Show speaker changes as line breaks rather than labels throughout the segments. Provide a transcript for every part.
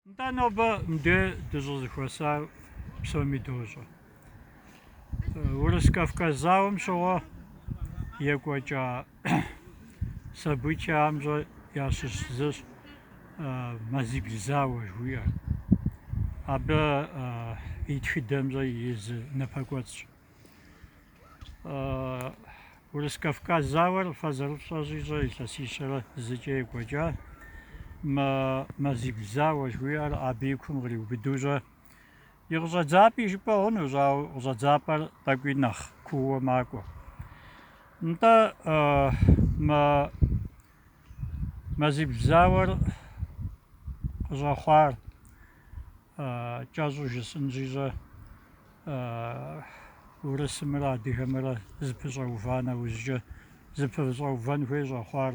Нтӏэ нобэ мыдэ дыщӏызэхуэсар псоми дощӏэ. Урыс-Кавказ зауэм щыгъуэ екӏуэкӏа событиямщӏэ ящыщ зыщ мазибл зауэ жыхуиӏэр. Абы и тхыдэмщӏэ и зы напэкӏуэцӏщ. Урыс-Кавказ зауэр фэ зэрыфщӏэщӏи щӏэ илъэсищэрэ зыкӏэ екӏуэкӏа мазибл зауэ жыхуиӏэр абы и кум къриубыду щӏэ. И къыщӏэдзапӏи жыпӏэ хъунущ, ауэ къыщӏэдзапӏэр тӏэкӏуи нэхъ куууэ макӏуэ. Нтӏэ мазибл зауэр къыщӏэхъуар кӏэщӏу жысӏынщи щӏэ урысымрэ адыгэмрэ зыпыщӏэува нэужькӏэ зыпыщӏэувэн хуей щӏэхъуар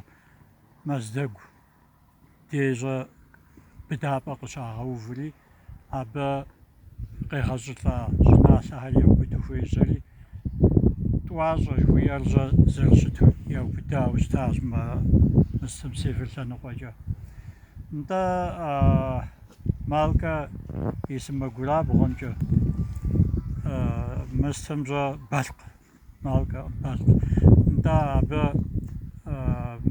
Мэздэгу дежьэ быдапӏэ къыщагъэуври абы къегъэщӏылӏа щӏыналъэхэр яубыду хуежьэри тӏуащӏэ жыхуиӏэрщӏэ зэрыщыту яубыдауэ щытащ мы мыстым север лъэныкъуэкӏэ нтӏэ Малкэ и сымэгурабгъуэмкӏэ мыстым щӏэ Балъкъ, Малкэ, Балъкъ. Нтӏэ абы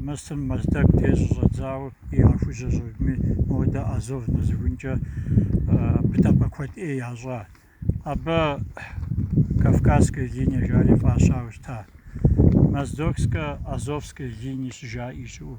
мыстым Мэздэгу деж щӏэдзауэ и ахужьэ щӏыгми, модэ Азов нэсыхункӏэ быдапӏэ куэд ӏей ящӏа. Абы Кавказская линия жари фӏащауэ щыта. Моздокско-Азовская линия щыжаӏи щыӏэу.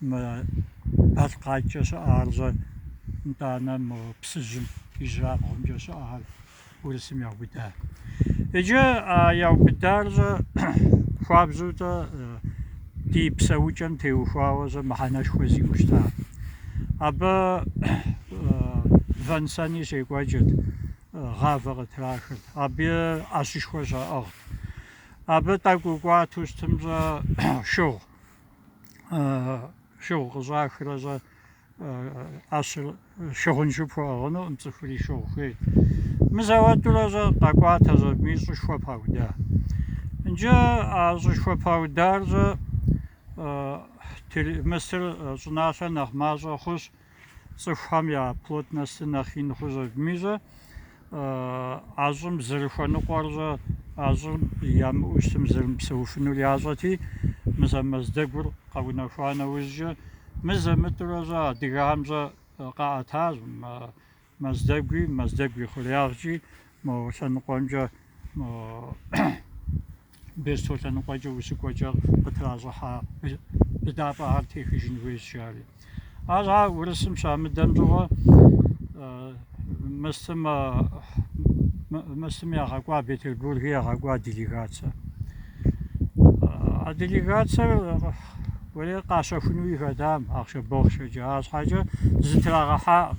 мы Балъкъакӏэ щыӏарщӏэ, нтӏанэ мы Псыжьым ижьырабгъумкӏэ щыӏэхэр урысым яубыда. Иджы а яубыдарщӏэ хуабжьу-тӏэ ди псэукӏэм теухуауэ-щӏэ мыхьэнэшхуэ зиӏэу щыта. Абы вэн-сэни щекӏуэкӏырт, гъавэ къытрахырт, абы ӏэщышхуэ щаӏыгът. Абы тӏэкӏу кӏуату щытымщӏэ шыгъу шыгъу къыщӏахрэщӏэ ӏэщыр шыгъуншэу пхуэӏыгъынуӏым цӏыхури шыгъу хуей мызэуэтурэщӏэ къэкӏуатэщ абыми щӏышхуэ пауда иджы а щӏышхуэ паударщӏэ мыстыр щӏыналъэ нэхъ мащӏэ хъущ цӏыхухэм я плотностыр нэхъ ин хъущ абыми щӏэ а щӏым зэрыхуэныкъуэрщӏэ, а щӏым ямыӏэу щытым зэрымыпсэуфынур ящӏэти, мызэ Мэздэгур къэунэхуа нэужькӏэ, мызэ-мытӏэурэ щӏэ адыгэхэм щӏэ къаӏэтащ Мэздэгуи, Мэздэгу и хъуреягъкӏи мо лъэныкъуэмкӏэ, мо Бесто лъэныкъуэкӏэ усыкӏуэкӏэ къытращӏыхьа быдапӏэхэр техыжын хуейщ жари. Арщхьэ урысым щамыдэм щыгъуэ мыстым мыстым ягъэкӏуа Петербурги ягъэкӏуа делегацэ. А делегацэр къащэхунуи хэтам ахъшэ-бохъшэкӏэ, арщхьэкӏэ зытрагъэхьакъым.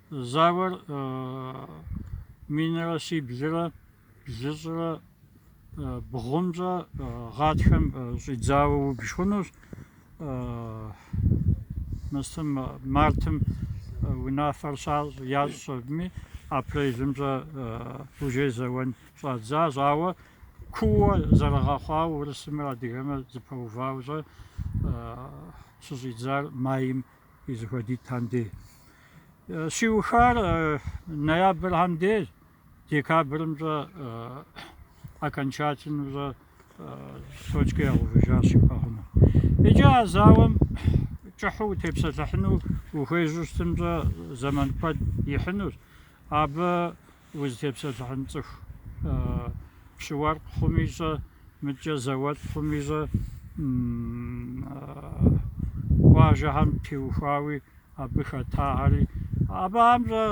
Зауэр минрэ щиблрэ блыщӏрэ бгъумкӏэ гъатхэм щӏидзауэ убж хъунущ. Мыстым мартым унафэр щащӏ ящӏ щӏэбми апрелымкӏэ уже зэуэн щӏадзащ, ауэ куууэ зэрыгъэхъуауэ урысымрэ адыгэмрэ зыпэувауэ щӏэ щыщӏидзар майм и зэхуэдитӏхэм дей. Щиухар ноябрхэм дей, декабрымкӏэ окончательнэу щӏэ точкэ ягъэувыжащ жыпӏэ хъуну. Иджы а зауэм кӏыхьу утепсэлъыхьыну ухуежьу щытымкӏэ зэман куэд ихьынущ. Абы Узытепсэлъыхьын цӏыху пщы-уэркъ хъуми щӏэ, мыдкӏэ зауэлӏ хъуми щӏэ, къуажэхэм теухуауи абы хэтахэри, абыхэм щӏэ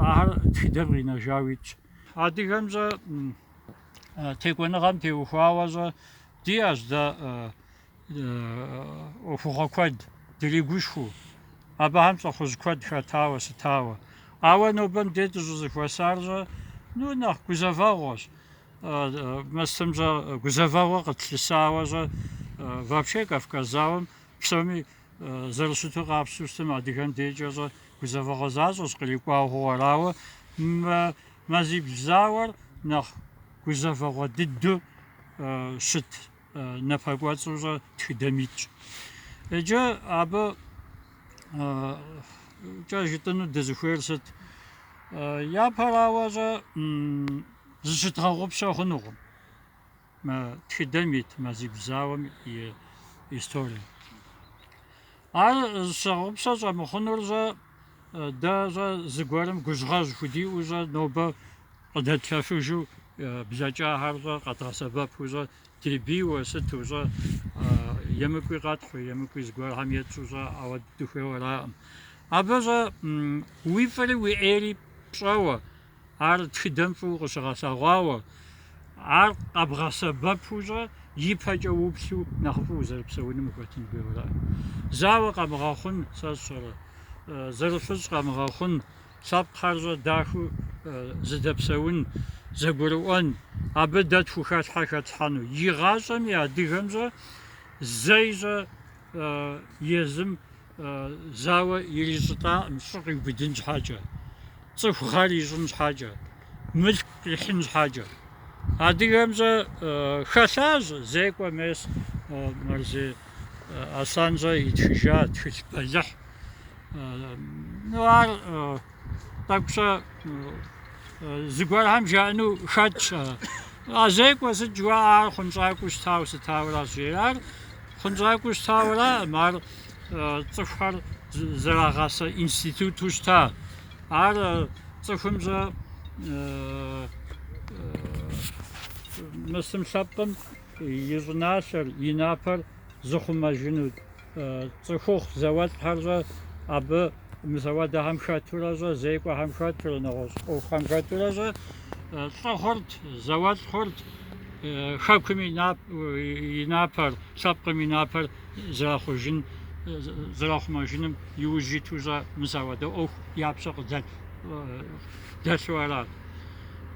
ахэр тхыдэм къинэжауи итщ. Адыгэм щӏэ текӏуэныгъэм теухуауэ щӏэ диӏэщ дэ ӏуэхугъуэ куэд дригушхуэу, абыхэм лӏыхъужь куэд хэтауэ сытауэ. Ауэ нобэм де дыщӏызэхуэсар щӏэ, ну, нэхъ гузэвэгъуэщ. Мыстым щӏэ гузэвэгъуэ къытлъысауэ щӏэ вообще Кавказ зауэм псоми зэрыщыту къапщту щытым адыгэм декӏэ щӏэ гузэвэгъуэ защӏэщ кърикӏуа ӏуэхугъуэр. Ауэ мы мазибл зауэр нэхъ гузэвэгъуэ дыдэу щыт напэкӏуэцӏу щӏэ тхыдэм итщ. Иджы абыкӏэ жытӏыну дызыхуейр сыт? Япэрауэ щӏэ зыщыдгъэгъупщэ хъунукъым мы тхыдэм ит мазибл зауэм и история. Ар зыщыгъэгъупщэ щӏэмыхъунур щӏэ Дэ щӏэ зыгуэрым гужьгъэжь худиӏэу щӏэ нобэ къыдэтлъэфыжу блэкӏахэр щӏэ къэдгъэсэбэпу щӏэ ди бийуэ сыту щӏэ емыкӏуи къэтхьу, емыкӏуи зыгуэрхэм етщӏу щӏэ ауэ дыхуейуэ араӏым. Абы щӏэ уи фӏыри уи ӏейри пщӏэуэ, Ар тхыдэм фӏыуэ къыщыгъэлъэгъуауэ, ар къэбгъэсэбэпу щӏэ ипэкӏэ уплъу нэхъыфӏу узэрыпсэуным ухэтын хуейуэ ара? Зауэ къэмыгъэхъун, сэ сщӏэрэ, зэрыфыщӏ къэмыгъэхъун, лъэпкъхэр щӏэ дахэу зыдэпсэун, зэгурыӏуэн, абы дэ тхухэлъхьэ хэтлъхьэну. Игъащӏэми, адыгэм щӏэ зэи щӏэ езым зауэ ирищӏылӏаӏым щӏы къиубыдын щхьэкӏэ, цӏыху гъэр ищӏын щхьэкӏэ, мылъку къихьын щхьэкӏэ. Адыгэм щӏэ хэлъащ зекӏуэ мес Мэрзей Аслъэн щӏэ итхыжа тхылъ бэлыхь. Ну ар тӏэкӏу щӏэ зыгуэрхэм жаӏэну хэтщ. А зекӏуэ сыт жыхуаӏэр хъунщӏакӏуэу щытауэ сытауэращ жери. Ар хъунщӏакӏуэу щытауэраӏым ар цӏыхухэр зэрагъасэ институту щыта. Ар цӏыхум щӏэ мысым лъэпкъым и щӏыналъэр, и напэр зыхъумэжыну цӏыхухъу зауэлӏхэр щӏэ абы мыс апхуэдэхэм хэтурэ щӏэ, зекӏуэхэм хэтурэ, нэгъуэщӏ ӏуэхухэм хэтурэ щӏэ лӏы хъурт, зауэлӏ хъурт хэкум и напэр, лъэпкъым и напэр зэрахъужын, зэрахъумэжыным иужь иту щӏэ мыс апхуэдэ ӏуэху я пщэ къыдэлъ дэлъу арат.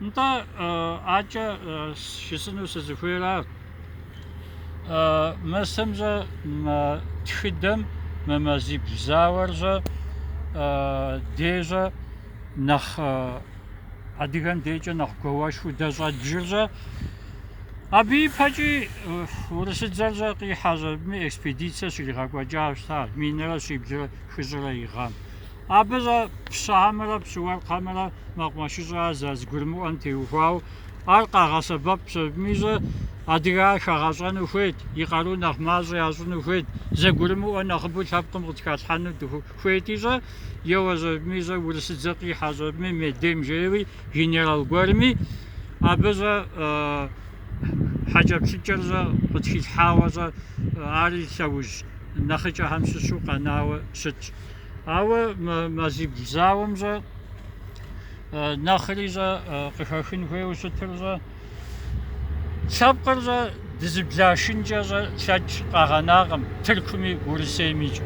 Нтӏэ акӏэ жысӏэну сызыхуейра? Мысым щӏэ мы тхыдэм мы мазибл зауэр щӏэ дэ щӏэ нэхъ адыгэм декӏэ нэхъ гуауэшхуэу дэ щӏэдбжыр щӏэ, абы ипэкӏи урысыдзэр щӏэ къихьэщ абыми, экспедицэ щригъэкӏуэкӏащ, минрэ щиблрэ хыщӏрэ и гъэм. Абы щӏэ пщыхэмрэ пщыуэркъхэмрэ мэкъумэшыщӏэ зэрызэгурымыӏуэм теухуауэ, ар къагъэсэбэпщ абыми щӏэ, адыгэр хагъэщӏэну хуейт, и къару нэхъ мащӏэ ящӏыну хуейт, зэгурымыӏуэ нэхъыбэу лъэпкъым къытхалъхьэну хуейти щӏэ, еуэщ абыми щӏэ, урысыдзэ къихьэщ абыми, Медем жери, генерал гуэрми, абы щӏэ хьэкӏэплъыкӏэр щӏэ къытхилъхьауэ щӏэ, ари лъэужь нэхъыкӏэхэм щыщу къэнауэ щытщ. Ауэ мазибл зауэм щӏэ нэхъри щӏэ къыхэхын хуейуэ щытыр щӏэ лъэпкъыр щӏэ дызыблашынкӏэ щӏэ лъэкӏ къагъэнакъым Тыркуми Урысеймикӏ.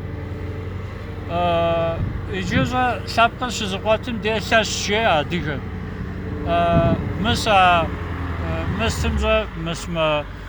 Иджы щӏэ лъэпкъыр щызыкъуэтым де лъэщ жеӏэ адыгэм. Мыс а мыстым щӏэ мыс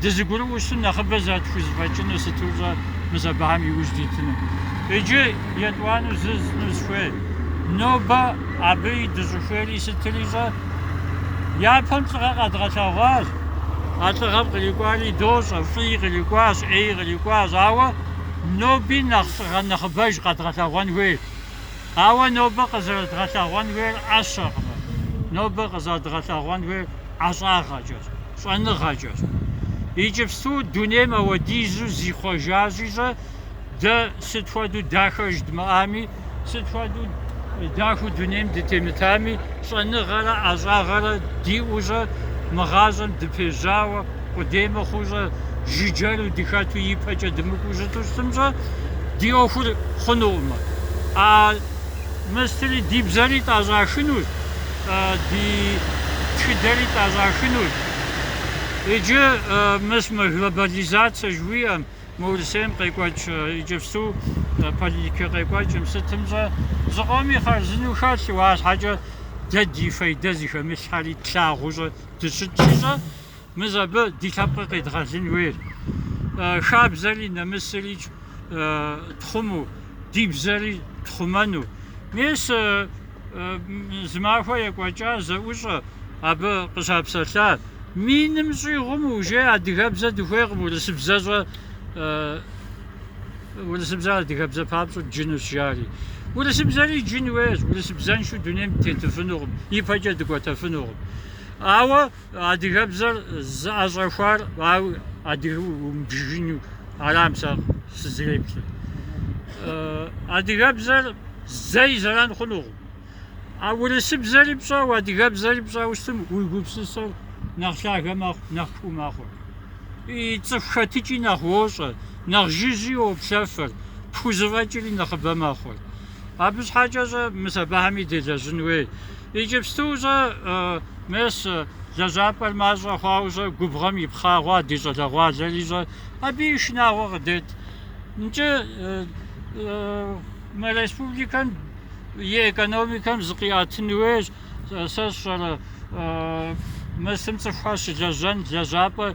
дызыгурыӏуэу щытым нэхъыбэ зэрытхузэфӏэкӏыну сыту щӏэ мис абыхэм иужь дитыну. Иджы етӏуанэу жысӏэну сыхуейр, нобэ абы и дыщӏыхуейри сытри щӏэ, япэм лӏыгъэ къэдгъэлъэгъуащ, а лӏыгъэм кърикӏуари дощӏэ, фӏыи кърикӏуащ, ӏеи кърикӏуащ, ауэ ноби нэхъ лӏыгъэ нэхъыбэж къэдгъэлъэгъуэн хуейщ. Ауэ нобэ къызэрыдгъэлъэгъуэн хуейр ӏэщэкъым, нобэ къызэрыдгъэлъэгъуэн хуейр ӏэщӏагъэкӏэщ, щӏэныгъэкӏэщ. Иджыпсту дунейм апхуэдизу зихъуэжащи щӏэ дэ сыт хуэдэу дахэ жыдмыӏами, сыт хуэдэу дахэу дунейм дытемытами, щӏэныгъэрэ ӏэщӏагъэрэ диӏэу щӏэ мы гъащӏэм дыпежьауэ, Къудей мыхъуу щӏэ жыджэру дыхэту ипэкӏэ дымыкӏуу щыту щытым щӏэ ди ӏуэхур хъунукъымэ. А мыстри ди бзэри тӏэщӏахынущ, ди тхыдэри тӏэщӏахынущ. Иджы мыс мы глобализацэ жыхуиӏэм, мы Урысейм къекӏуэкӏ иджыпсту политикэ къекӏуэкӏым сытым щӏэ зыкъоми хъарзыну хэлъу, арщхьэкӏэ дэ ди фейдэ зыхэмылъхэри тлъагъуу щӏэ дыщытщи щӏэ? Мис абы ди лъэпкъыр къедгъэлын хуейр. Хабзэри нэмысри тхъуму, ди бзэри тхъумэну. Мис зы махуэ екӏуэкӏа зэӏущӏэ абы къыщапсэлъа. Миным щӏигъум уже адыгэбзэ дыхуейкъым, урысыбзэ щӏэ, урысыбзэр адыгэбзэ папщӏэ дджынущ жари. Урысыбзэри дджын хуейщ, урысыбзэншэу дунейм дытетыфынукъым, ипэкӏэ дыкӏуэтэфынукъым. Ауэ Адыгэбзэр зыӏэщӏэхуар, ауэ адыгэу умыбжыжыну арам сэ сызэреплъыр. Адыгэбзэр зэи зэран хъунукъым. А урысыбзэри пщӏэу, адыгэбзэри пщӏэу щытым уи гупсысэр нэхъ лъагэ мэхъу, нэхъ куу мэхъур. И цӏыху хэтыкӏи нэхъ уощӏэ, нэхъ жыжьи уоплъэфыр, пхузэфӏэкӏри нэхъыбэ мэхъур. Абы щхьэкӏэ щӏэ мыс абыхэми делэжьын хуей. Иджыпсту щӏэ мес лэжьапӏэр мащӏэ хъуауэ щӏэ губгъуэм ипхъа хъуа ди щӏалэгъуалэри щӏэ абы и шынагъуэ къыдет. Нкӏэ мы республикэм и экономикэм зыкъиӏэтын хуейщ, сэ сщӏэрэ, мысым цӏыхухэр щылэжьэн лэжьапӏэ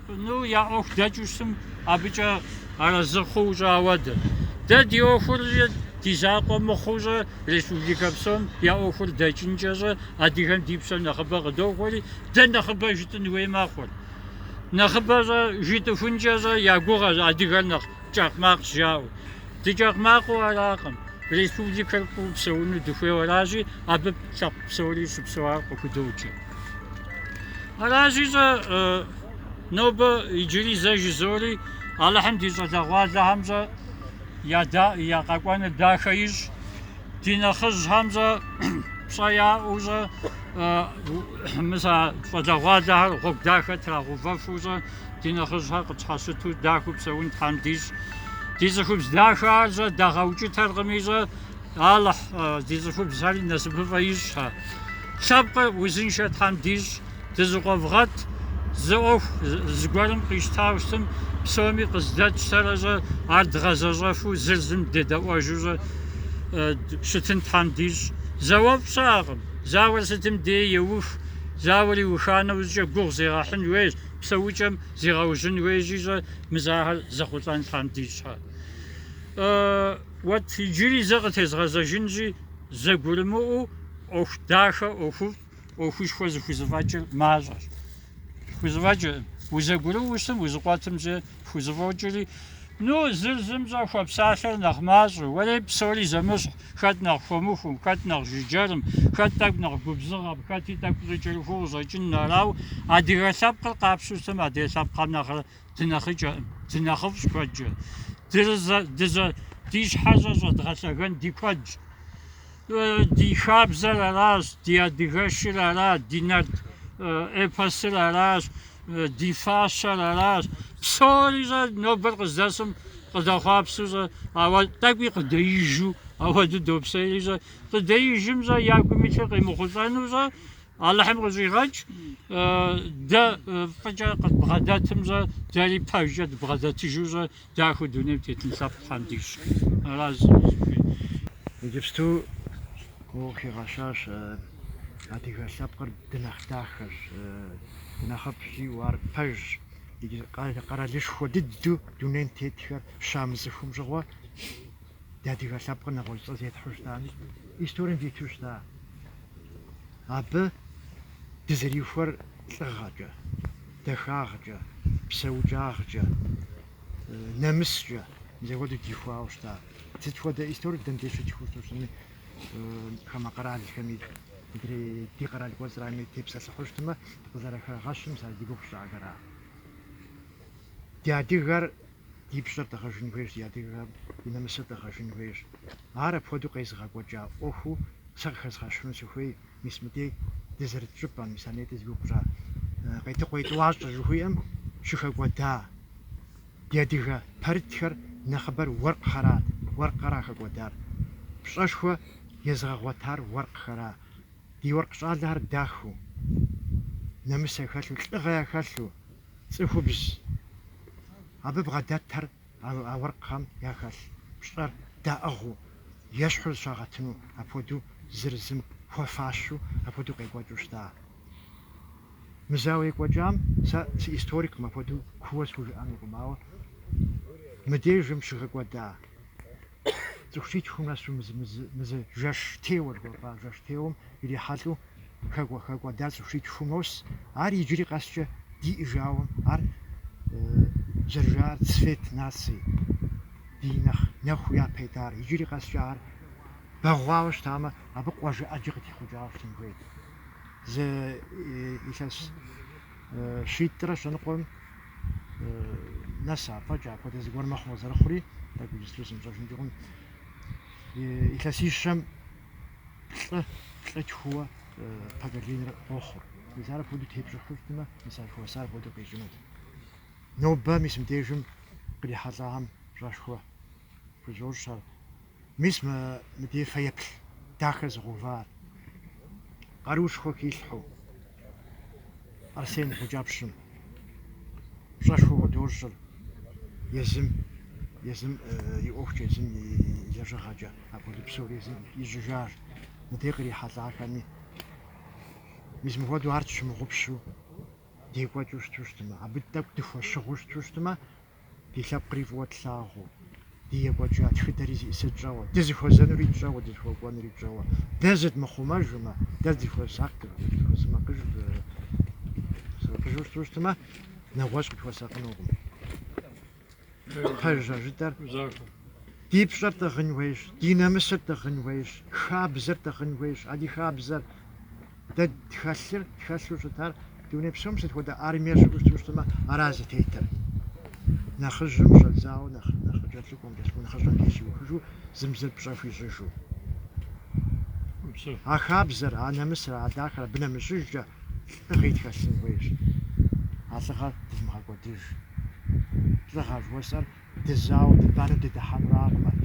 Ну, я ӏуэху дэкӏыу щытым, абыкӏэ арэзы хъуу щӏэ, ауэ дэ, дэ ди ӏуэхур ди закъуэ мыхъуу щӏэ, республикэ псом я ӏуэхур дэкӏынкӏэ щӏэ адыгэм ди пщэ нэхъыбэ къыдохуэри, дэ нэхъыбэ жытӏын хуей мэхъур. Нэхъыбэ щӏэ жытӏыхункӏэ щӏэ я гугъэщ адыгэр нэхъ кӏэкъ макъщ жаӏэу. Дыкӏэкъ макъыу аракъым, республикэр фӏыуэ псэуну дыхуейуэ аращи, абы лъэпкъ псори щыпсэуар къыхудоджэ. Аращи щӏэ нобэ иджыри зэ жызори Алыхьым ди щӏалэгъуалэхэм щӏэ я къэкӏуэныр дахэ ищӏ, ди нэхъыжьхэм щӏэ пщӏэ яӏэу щӏэ мыс а щӏалэгъуалэхэр гъуэгу дахэ трагъэувэфу щӏэ ди нэхъыжьхэр къытщхьэщыту дахэу псэун Тхьэм дищӏ. Ди цӏыхубз дахэхэр щӏэ дагъэукӏытэркъыми щӏэ Алыхь, ди цӏыхубзхэри насыпыфӏэ ищӏхьэ. Лъэпкъыр узыншэ Тхьэм дищӏ, дызыкъуэвгъэт, зы ӏуэху зыгуэрым къищтауэ щытым, псоми къыздэтщтэрэ щӏэ, ар дгъэзэщӏэфу зыр зым дедэӏуэжыу щӏэ щытын Тхьэм дищӏ. Зауэфӏ щыӏэкъым, зауэр сытым дей еух, зауэр иуха нэужькӏэ гугъу зегъэхьын хуейщ, псэукӏэм зигъэужьын хуейщи щӏэ, мыс ахэр зэхъулӏэн Тхьэм дищӏхьэ. Уэт иджыри зэ къытезгъэзэжынщи, зэгурымыӏуэу ӏуэху дахэ ӏуэхуфӏ, ӏуэхушхуэ зыхузэфӏэкӏыр мащӏэщ. Хузэфӏэкӏыркъым. Узэгурыӏуэу ущытым, узыкъуэтым щӏэ пхузэфӏокӏри, ну, зыр зым щӏэ хуэпсалъэр нэхъ мащӏэу, уэри псори зэмыщхь, хэт нэхъ хуэмыхум, хэт нэхъ жыджэрым, хэт тӏэкӏу нэхъ губзыгъэм, хэти тӏэкӏу щӏыкӏэрыхуу къыщӏэкӏын. Арауэ адыгэ лъэпкъыр къапщту щытым, адрей лъэпкъхэм нэхърэ Дынэхъыкӏэкъым, дынэхъыфӏщ куэдкӏэ. Ди щхьэ щӏэ щӏэдгъэлъэгэн ди куэдщ. Ди хабзэр аращ, ди адыгэшыр аращ, ди нарт эпосыр аращ, ди фащэр аращ. Псори щӏэ нобэр къыздэсым къыдэхъуапсу щӏэ, ауэ тӏэкӏуи къыдэижу ауэду допсейри щӏэ. Къыдэижым щӏэ, я гум илъыр къимыхъулӏэну щӏэ. Алыхьым къыщӏигъэкӏ, дэ фӏыкӏэ къыдбгъэдэтым щӏэ, дэри пэжкӏэ дыбгъэдэтыжыу щӏэ дахэу дунейм тетын лъэпкъ Тхьэм дищӏ. Аращ зыми зыхуейр. Иджыпсту
къыхигъэщащ, адыгэ лъэпкъыр дынэхъ дахэщ, дынэхъыфӏщ, жиӏэу ар пэжщ. Къэралышхуэ дыдэу дунейм тетхэр щамыцӏыхум щыгъуэ, ди адыгэ лъэпкъыр нэгъуэщӏ цӏэ зетхьу щытами, историем диту щыта. Абы дызэрихуэр лӏыгъэкӏэ, дахагъкӏэ, псэукӏагъкӏэ, нэмыскӏэ мыс агуэду дихуауэ щыта. Сыт хуэдэ историк дэнди щытхыу щытми, хамэ къэралхэми, ди къэрал кӏуэцӏрами тепсэлъыхьу щытмэ, къызэрыхэгъэщым сэ ди гугъу щӏагъэра. Ди адыгэр Ди пщӏэр дгъэжын хуейщ, ди адыгэм и нэмысыр дгъэжын хуейщ. Ар апхуэдэу къезыгъэкӏуэкӏа ӏуэхуу сэ къыхэзгъэщхьыну сыхуей, мис мыдей дызэрыт щӏыпӏэм, мис аней дызигугъу щӏа Къетыкъуей тӏуащӏэ жыхуиӏэм щыхэкӏуэда ди адыгэ пэрытхэр нэхъыбэр уэркъхэрат, уэркъхэра хэкӏуэдар. Пщӏэшхуэ езыгъэгъуэтар уэркъхэра. Ди уэркъ щӏалэхэр дахэу, нэмыс яхэлъу, лӏыгъэ яхэлъу. Цӏыхубз абы бгъэдэтэр а уэркъхэм яхэлъ пщӏэр даӏыгъыу, ещхьу зыщагъэтыну, апхуэдэу зыр зым хуэфащу апхуэдэу къекӏуэкӏыу щыта. Мы зауэ екӏуэкӏам сэ сыисториккъым, апхуэдэу куууэ схужыӏэнукъым, ауэ мыдежым щыхэкӏуэда. цӏыху щитхум нэсу мы зы жэщтеуэ жыхуэпӏа жэщтеуэм ирихьэлӏэу хэкӏуэ-хэкӏуэда цӏыху щитхум нос. Ар иджыри къэскӏэ диӏэжауэ, ар зэрыжаӏэр цвет наций, ди нэхъ нэху япэ итар. Иджыри къэскӏэ ар бэгъуауэ щытамэ, абы къуажэ ӏэджэ къытехъукӏауэ щытын хуейт. Зы илъэс щитӏрэ щэныкъуэм нэс ипэкӏэ апхуэдэ зыгуэр мэхъу къызэрыхъури, тӏэкӏу ичислоу сымыщӏэжынкӏи хъун. Илъэсищэм плӏы, плӏы тхууэ поколенэр къохъур. Мис ар апхуэдэу тепщӏыхьу щытмэ, мис ар хуэсар апхуэдэу къищӏынут. Нобэ мис мыбдежым кърихьэлӏагъэм пщӏэшхуэ хузощӏ сэ. Мис мы мыдей фэеплъ дахэ зыгъэувар къаруушхуэ хилъхьэу Арсен Гъукӏэпщым пщӏэшхуэ худощӏыр езым, езым и ӏуэхукӏэ, езым и лэжьыгъэкӏэ, апхуэдэ псори езым ищӏыжащ, мыдей кърихьэлӏахэми. Мис мыхуэдэу ар тщымыгъупщу декӏуэкӏыу щыту щытмэ, абы тӏэкӏу дыхуэщыгъуу щыту щытмэ, Ди лъэпкъри фӏыуэ тлъагъуу, ди екӏуэкӏа тхыдэри зиӏысыр тщӏэуэ, дызыхуэзэнури тщӏэуэ, дызыхуэкӏуэнури тщӏэуэ. Дэ зыдмыхъумэжмэ, дэ дызыхуэмысакъыжу щыту щытмэ, нэгъуэщӏ къытхуэсакъынукъым. Пэжщ а жытӏэр. Ди пщӏэр тӏыгъын хуейщ, ди нэмысыр тӏыгъын хуейщ, хабзэр тӏыгъын хуейщ. А ди хабзэр Дэ тхэлъыр, тхэлъу щытар дуней псом сыт хуэдэ армие щыӏэу щыту щытмэ, ара зытетыр. Нэхъыжьым щӏэдзауэ, нэхъ, нэхъ кӏэлъыкӏуэм нэс нэхъыщӏэм деж щиухыжу, зым зыр пщӏэ хуищӏыжу. А хабзэр, а нэмысыр, а дахэр абы нэмыщӏыжкӏэ лӏыгъи тхэлъын хуейщ. А лӏыгъэр дывмыгъэкӏуэдыж. Лӏыгъэ жыхуэсӏэр дызауэ, дыбанэу дыдыхьэнуракъым ар.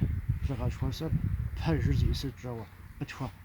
Лӏыгъэ жыхуэсӏэр пэжыр зиӏысыр тщӏэуэ, къытхуэ,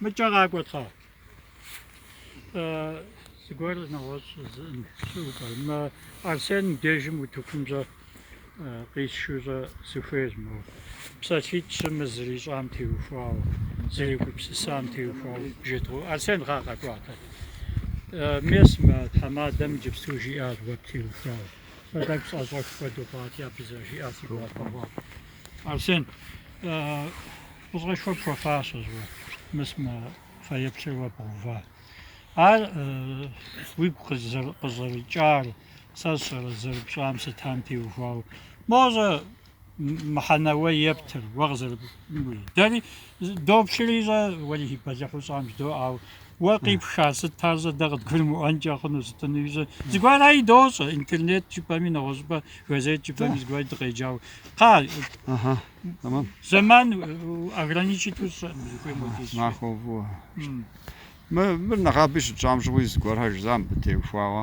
Мыкӏэ къакӏуэт кхъа. Зыгуэр нэгъуэщӏ щыӏэкъэ. Арсен дежым утыкум щӏэ къисшэу щӏэ сыхуейр мо. Псалъитӏ-щы мы зэрищӏам теухуауэ, зэригупсысам теухуауэ жедгъэӏэу. Арсен кхъа къакӏуатэ. Мис мы тхьэмадэм джыпсу жиӏар уэ птеухуауэ. Сэ тӏэкӏу сӏэщӏэх хуэдэу хъуати, абы зэрыжиӏар си гуапэ хъуат. Арсен, Фӏыщӏэшхуэ пхуэфащэщ уэ, мыс мы фэеплъыр уэ бгъэува. Ар уигу къыщӏэрыкӏар сэ сщӏэрэ зэрыпщӏам сытам теухуауэ. Моуэ щӏэ мыхьэнэ уэ ептыр, уэ къызэрыпӏуи. Дэри доплъри щӏэ, уэлэхьи бэлыхьу щӏам жыдоӏэ, ауэ уэ къипха сыт ар щӏэ, дэ къыдгурымыӏуэнкӏэ хъуну сытынуи щӏэ. Зыгуэр ари дощӏэ, интернет жыпӏэми, нэгъуэщӏыпӏэ газет жыпӏэми зыгуэр дыкъеджауэ. Кхъа.
Tamam.
Zaman ограничиту
щыӏэм узыхуейм хуэдиз. Махуэ фӏыуэ. Мы мыр нэгъабэ щытщӏам щыгъуи зыгуэрхэр жысӏа мыбы теухуауэ.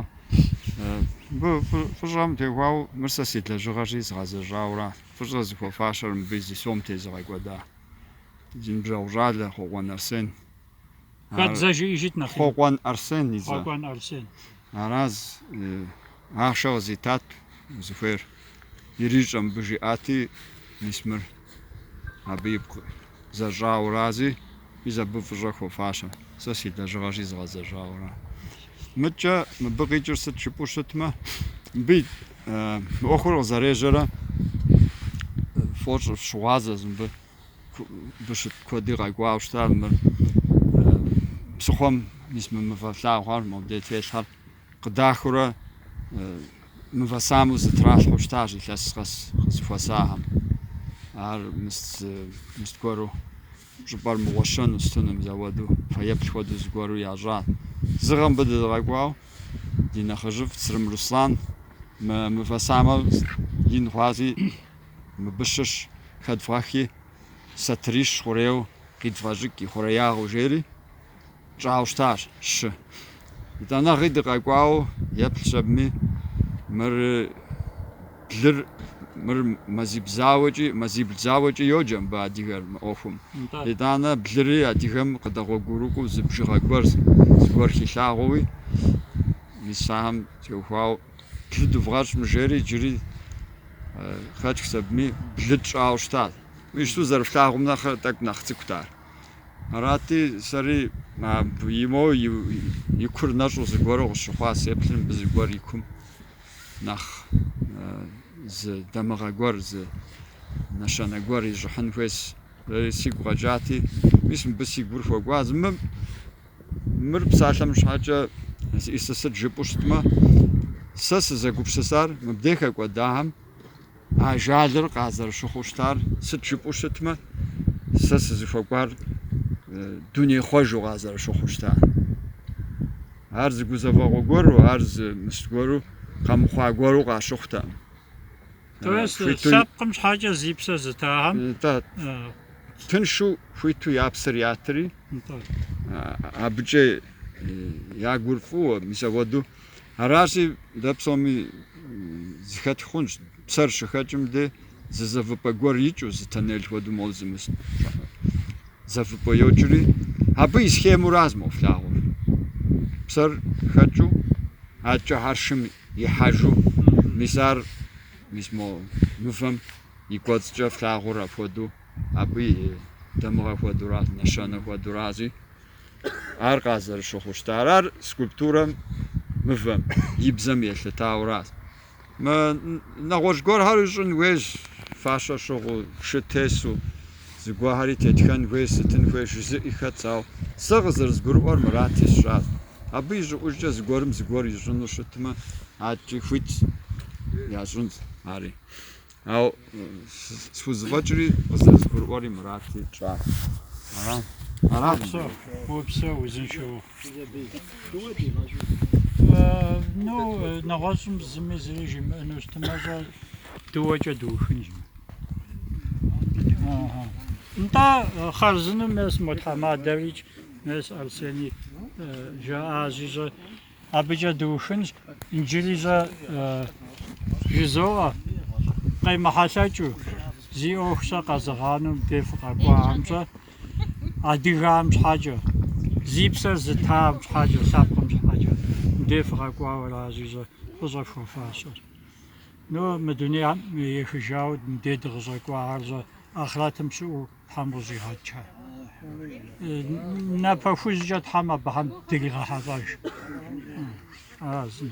Мыбы фӏыщӏэм теухуауэ мыр сэ си лэжьыгъэщи згъэзэщӏауэра. Фӏыщӏэ зыхуэфащэр мыбы зи сом тезыгъэкӏуэда. Си ныбжьэгъу щӏалэ Хъуэкӏуэн Арсен.
Хэт зэ жыӏэжыт нэхъ
ину?
Хъуэкӏуэн Арсен и зэ.
Хъуэкӏуэн Арсен. Араз ахъшэ къызитат, узыхуейр ирищӏэ мыбы жиӏати, мис мыр абы ипкъ зэщӏауэрази, мис абы фӏыщӏэ хуэфащэ. Сэ си лэжьыгъэщи згъэзэщӏауэра. Мыдкӏэ мыбы къикӏыр сыт жыпӏэу щытмэ, мыбы и мы ӏуэхур къызэрежьэрэ фӏощӏ фщыгъуазэщ мыбы. Щыт куэди къэкӏуауэ щыта мыр псыхъуэм мис мы мывэ флъагъур, мобдей телъхэр къыдахэурэ мывэ самэу зэтралъхьэу щытащ илъэс къэс къызэхуэсахэм. Ар мыс мыс гуэру щӏыпӏэр мыгъуэщэну сытыну мызэуэду фэеплъ хуэдэу зыгуэру ящӏа. Зы гъэм мыбы дыкъэкӏуауэ ди нэхъыжьыфӏ Црым Руслан мы мывэ самэр ин хъуази Мыбы щыщ хэдывгъэхи, сатырищ хъурейуэ къедывгъэщӏэкӏ и хъуреягъыу, жери тщӏауэ щытащ Щы. Итӏанэгъи дыкъэкӏуауэ еплъ щӏэбми, мыр блыр, мыр мазибл зауэкӏи, мазибл зауэкӏи йоджэ мыбы адыгэр мы ӏуэхум. Итӏанэ блыри адыгэм къыдэгъуэгурыкӏуэу зы бжыгъэ гуэрщ, зыгуэр хилъагъууи, мис ахэм теухуауэ. блы дывгъэщӏым жери иджыри Хэчк сабми блы тщӏауэ щытащ. Ишту зэрыфлъагъум нэхърэ тӏэкӏу нэхъ цӏыкӏут ар. Арати, сэри и моуэ и кур нэщӏу зыгуэру къысщыхъуа, сеплъыр мыбы зыгуэр и кум нэхъ зы дамыгъэ гуэр, зы нэщэнэ гуэр ищӏыхьын хуейс. Сэри сигу къэкӏати, мис мыбы си гур хуэкӏуа зы мым. Мыр псалъэм щхьэкӏэ зищӏысыр сыт жыпӏэу щытмэ, сэ сызэгупсысар мыбдей хэкӏуэдахэм ажалыр къазэрыщыхъуу щытар сыт жыпӏэу щытмэ, сэ сызыхуэкӏуар дуней хъуэжу къазэрыщыхъуу щытар. Ар зы гузэвэгъуэ гуэру, ар зы мыст гуэру, къэмыхъуа гуэру къащыхъутэкъым.
То есть лъэпкъым щхьэкӏэ зи псэ зытахэм
тыншу хуиту я псэр ятри, абыкӏэ я гур фӏыуэ мис апхуэдэу. Аращи, дэ псоми э, зыхэтх хъунщ, псэр щыхэкӏым де зы зэвыпӏэ гуэр икӏыу, зы тоннель хуэдэу моуэ зы мис зэвыпӏэ йокӏри, абы и схемэуращ мо флъагъур. Псэр хэкӏыу, адэкӏэ хьэршым Ихьэжу, мис ар, мис мо мывэм и кӏуэцӏкӏэ флъагъур апхуэдэу, абы и дамыгъэ хуэдэура, нэщэнэ хуэдэуращи, ар къазэрыщыхъуу щытар. Ар скульптурэм, мывэм и бзэм елъытауращ. Мы нэгъуэщӏ гуэрхэр ищӏын хуейщ фащэ щыгъуу, шы тесу. Зыгуэхьэри тетхэн хуей, сытын хуей жызыӏи хэтщ, ауэ сэ къызэрызгурыӏуэр мырати сщӏащ. Абы и щӏыӏужкӏэ зыгуэрым зыгуэр ищӏыну щытмэ, адэкӏи хуитщ, ящӏынщ ари. Ауэ схузэфӏэкӏри къызэрызгурыӏуэри мырати тщӏащ. Аращ.
Уопсэу, уопсэу, узыншэу ухъу. Ну, нэгъуэщӏым зыми зыри жимыӏэну щытмэ, щӏэ дыуэкӏэ дыухынщ. Нтӏэ хъарзынэу мес Мухьэмэд Дарич, мес Арсений жаӏащи щӏэ абыкӏэ дыухынщ, иджыри щӏэ жызоӏэ, къемыхьэлъэкӏыу, зи ӏуэху щӏэ къэзыгъанэу дей фыкъэкӏуам щӏэ, адыгэм щхьэкӏэ, зи псэр зытам щхьэкӏэ, лъэпкъым щхьэкӏэ, мыбдей фыкъэкӏуауэ аращи щӏэ фӏыщӏэ фхуэфащэр. Ну, мы дунейм ехыжауэ мыбдей дыкъыщӏэкӏуахэр щӏэ ахърэтым щыӏэу Тхьэм къыщӏигъэкӏ. Напэ хужькӏэ Тхьэм абыхэм дыригъэхьэлӏэж. Ара зым.